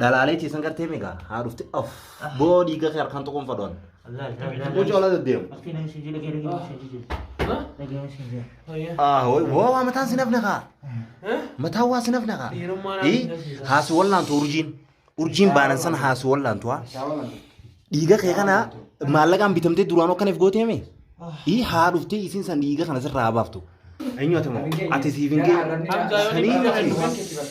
Dhalaalee ciisan gartee meeqa? Haa dhufte. Of. Boo dhiiga kee harkaan tokkoon fadhoon. Mucaa olaa deddeemu. Ah, wai, wai, wai, mataan sinaf naka. Mataa waa sinaf naka. Dhiirummaa naaf Ii, agarsiisa. haasu wallaantu urjiin. Urjiin baanan sana haasu wallaantu haa. Dhiiga kee kana maallaqaan bitamtee duraan akka neef gootee mee? Ii, haa dhuftee isiin san dhiiga kana sirraa haa baaftu. Eenyu ati moo? Ati siif hin geenye. Hamzaa yoo Sanii dhiiga miti. kana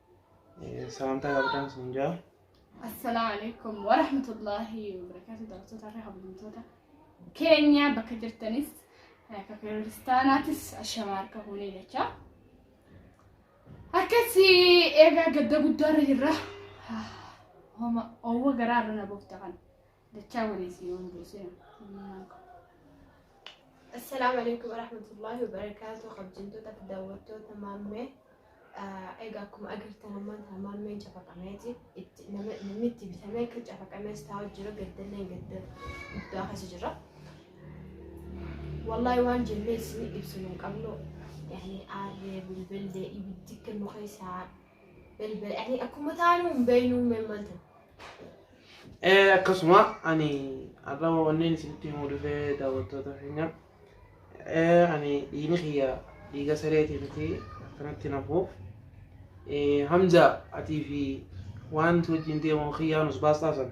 Saantaa qabdaan sun jaa. Assalaamu alaikum wa rahmatullahi wa barakaatu daawwattoota irra hawwamtoota keenya bakka jirtanis akka kiristaanaatis ashamaa harka fuunee jecha. Akkasi eegaa gadda guddaa irra jirra. Homa owwa garaa irra na boofta kan. Dachaa walii si yoon buusina. Assalaamu alaikum warahmatullahi wabarakaatu kabjamtoota fi daawwattoota maammee egaa akkuma agartan ammaan tana maammeen cafaqameeti itti nama namni itti bitamee akka cafaqamees taa'u jira gaddallee gadda guddaa keessa jira wallaahi waan jennee isin ibsinu hin qabnu yaani aarree bilbillee ibiddi kan nu keessaa Bilbila ani akkuma taanu hin beeknu hin maltan. Eh, akkasuma ani har'a wanneen isinitti himuu dhufee daawwattoota keenya eh, ani dhiigni kiyya dhiiga sareetii miti akkanatti nafuuf eh, hamza atii fi waan wajjin deemu kiyyaan us baastaa san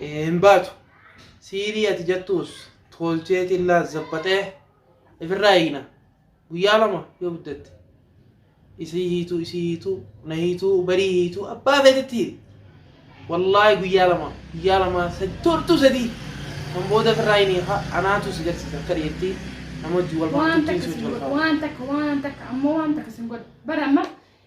hin baatu. Siirii ati jettuus tolchee tillaa zabbaxee ifirraa eegna. Guyyaa lama yoo guddatte. Isii hiituu, isii hiituu, na hiituu, barii hiituu, abbaa feetetti hiiti. Wallaahi guyyaa lama, guyyaa lama, sad- tortuu sadii. Kan booda ifirraa hin hiika, anaatu si garsiisa akka dhiyeetti nama wajjin wal waan bartutti takka sin godhu waan takka waan takka ammoo waan takka sin godhu bara amma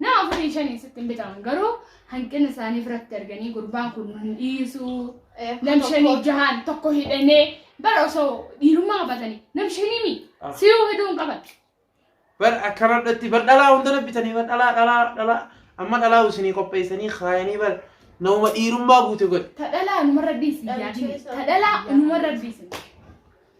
Nama afurii shanii sitti hin bitamu garuu hanqina isaanii biratti arganii gurbaan kun nu dhiisuu nam shanii jahaan tokko hidhanee bara osoo dhiirummaa qabatanii nam shanii mi Ah. siyuu hidhuu hin qaban. bar akkanadhatti bar dhalaa hunda nabbitanii bar dhalaa dhalaa dhalaa amma dhalaa isinii qopheessanii kaayanii bar nama dhiirummaa guute godhe Ta dhalaa numarra dhiisi Dhalaa yaadini keessaa. ta dhalaa numarra dhiisi.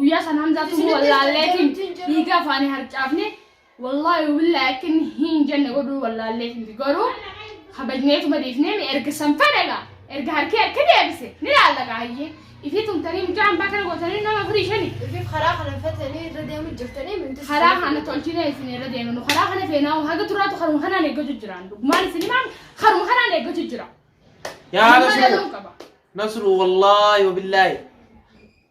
Guyyaa san Hamzaatu nu wallaalleetiin dhiiga afaanii harcaafne wallaahi billaa akka inni hin jenne godhuu wallaalleetiin garuu kabajneetuma dhiifnee mi erga san fedhaga erga harkee akka deebise ni laallaqa hayyee ifii tumtanii mucaa hambaa kana gootanii nama furii shanii Ifiif karaa kana fatanii irra deemu jirtanii minti. karaa kana tolchine isin irra deemnu karaa kana feenaa haga turaatu karuma kanaan eeggatu jiraan dhugumaan isin himaan karuma kanaan eeggatu jira. Yaa Nama Nasruu. dhaluun qaba. Nasruu wallaahi wabillaahi.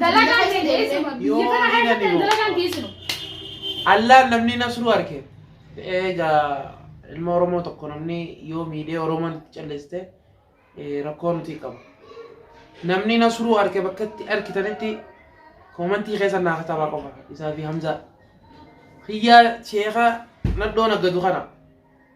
Dalagaan kee geessinu. Biyya kana keessatti dalagaan geessinu. Allaan namni nasruu arke. Egaa ilma Oromoo tokko namni yoo miidhee Oromoon itti calleessite rakkoo nuti qabu. Namni nasruu arke bakka itti arkitanitti koomantii keessa naa katabaa qofa isaa fi Hamzaa. Hiyyaa sheekaa nadhoon aggadu kana.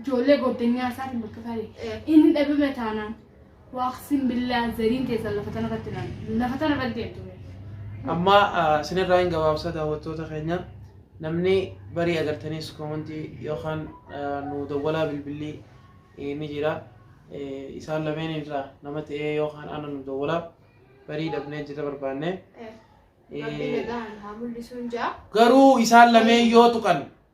ijoollee goddanyaa isaatiin bakka isaa deema. Inni dhabame taanaan waaqsin billaa zariin keessan lafa tana irratti naan lafa tana irratti deemtu. Amma sinirraa hin gabaabsa daawwattoota keenya namni barii agartaniis koomantii yookaan nu dawwalaa bilbilli ni jira. Isaan lameen irraa nama ta'ee yookaan ana nu dawwalaa barii dhabnee jirra barbaanne. Rabbi nagaan haa mul'isuun jaa. Garuu isaan lameen yoo tuqan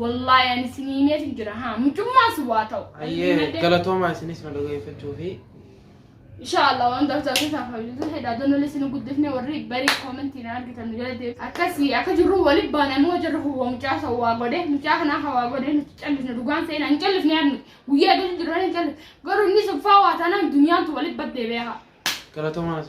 Wallaahi ani isin himeetu jira haa mucummaa si waa ta'u. Ayyee galatoomaa isinis na dhageeffachuu fi Inshallah waan ta'u ta'u isaaf hojjetu fedha donolee isin guddifne warri barii koomentiin argitan jala deemu. Akkasii akka jirru waliin baanee moo jirru hawwa mucaa isa waa godhe mucaa kanaa hawaa godhe nuti callisne dhugaan seenaa hin callifne yaadnu guyyaa gadi jirran hin callifne garuu inni suffaa waa taanaan duniyaantu waliin baddee beekaa. galatoomaa isin.